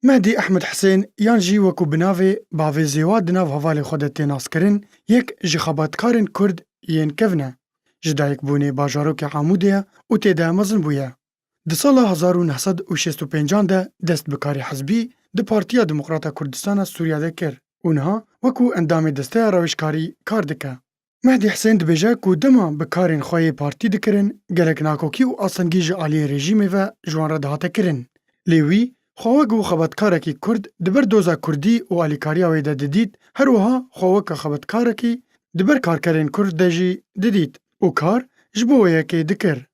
Mehdî Ehmed Hisên yan jî wekû bi navê Bavê Zêwa di nav hevalê xwe de tê naskirin yek ji xebatkarên Kurd yên kevn e. Ji dayikbûnê bajarokê Amûdê ye û tê de mezin bûye. Di sala hezar û neh sed û şêst û pêncan de dest bi karê hizbî di Partiya Demokrata Kurdistana Sûriya de kir û niha wekû endamê desteya rewişkarî kar dike. Mehdî Hisên dibêje ku dema bi karên xwe yê partî dikirin gelek nakokî û asengî ji aliyê rejîmê ve ji wan re dihate kirin. Lê wî xwe wek wê xebetkarekî kurd di ber doza kurdî û alîkariya wê de didît, her wiha xwe wek xebetkarekî di ber karkerên kurd de jî didît û kar ji bo wê yekê dikir.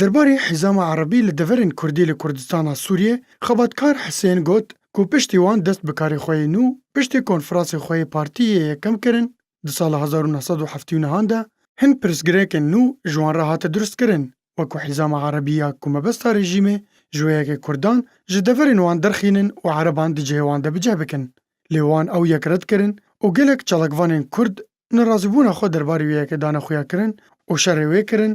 Derbarê hêzama erebî li deverên kurdî li Kurdistana Sûriyê, xebatkar Hisên got ku piştî wan dest bi karê xwe yê nû piştî konfransê xwe yê partî yê yekem kirin di sala hezar û neh sed û heftî û nihan de, hin pirsgirêkên nû ji wan re hate durstkirin wek ku hêzama erebî ya ku mebesta rejîmê ji wê yekê kurdan ji deverên wan derxînin û ereban di cihê wan de bi cih bikin. Lê wan ew yek red kirin û gelek çalakvanên kurd nerazîbûna xwe derbarê wê yekê dane xuyakirin û şerê wê kirin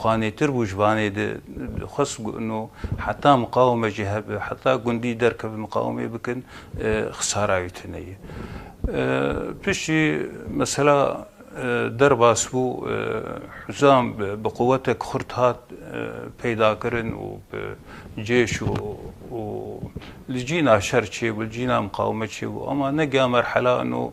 Xwe nêtir bû ji vanê de dixwest no heta miqawime jî hebe, heta gundî derkeve miqawimê bikin xisara wî tune ye. Piştî mesela derbas bû Huzam bi quwetek xurt hat peydakirin û bi cêş û û li cîna şer çêbû, li cîna miqawime çêbû ama negiya merhela no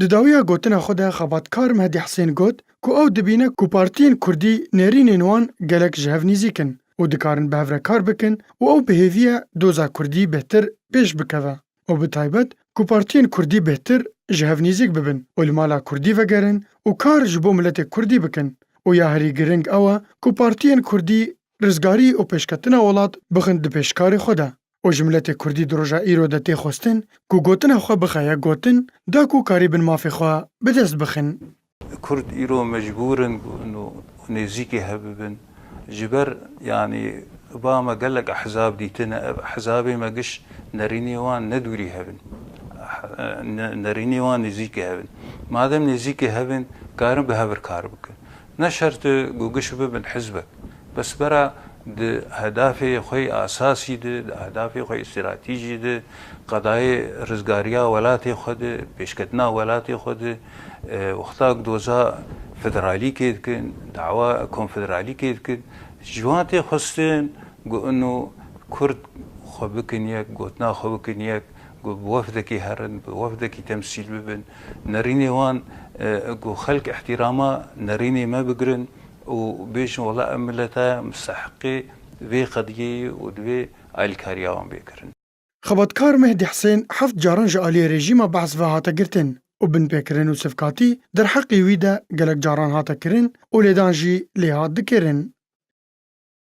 Di dawiya gotina xwe de xebatkar Mehdi Hesên got ku ew dibîne ku partiyên kurdî nêrînên wan gelek ji hev nîzîk in û dikarin bi hev re kar bikin û ew bi hêvî ye doza kurdî bêhtir pêş bikeve û bi taybet ku partiyên kurdî bêhtir ji hev nîzîk bibin û li mala kurdî vegerin û kar ji bo miletê kurdî bikin û ya herî giring ew e ku partiyên kurdî rizgarî û pêşketina welat bixin di pêşkarê xwe de. û ji miletê Kurdî di roja îro de tê xwestin ku gotina xwe bixe yek gotin da ku karîbin mafê xwe bi dest bixin. Kurd îro mecbûr in ku û nêzîkê hev bibin ji ber yanî ba me gelek ehzab dîtine ev ehzabê me giş nerînê wan ne dûrî hev in nerînê wan nêzîkê hev in madem nêzîkê hev in karin bi hev ir kar bikin Ne şert e ku giş bibin hizbek, bes bera di hedafê xwe yê esasî de, di hedafê xwe yê stratîjî de, qedayê rizgariya welatê xwe de, pêşketina welatê xwe de, wexta ku doza federalîkê dikin, dawa konfederalîkê dikin, ji wan tê xwestin ku ino Kurd xwe bikin yek, gotina xwe bikin yek, ku bi wefdekê herin, bi wefdekî temsîl bibin, nerînê wan ku xelk îhtîrama nerînê me bigirin û bêjin wela em mileta ye mustehiqê vê qediyê yê û divê alîkariya wan bê kirin. Xebatkar Mehdî Hisên heft caran ji aliyê rejîma Behs ve hate girtin û binpêkirin û sivkatî derheqê wî de gelek caran hate kirin û lêdan jî lê hat dikirin.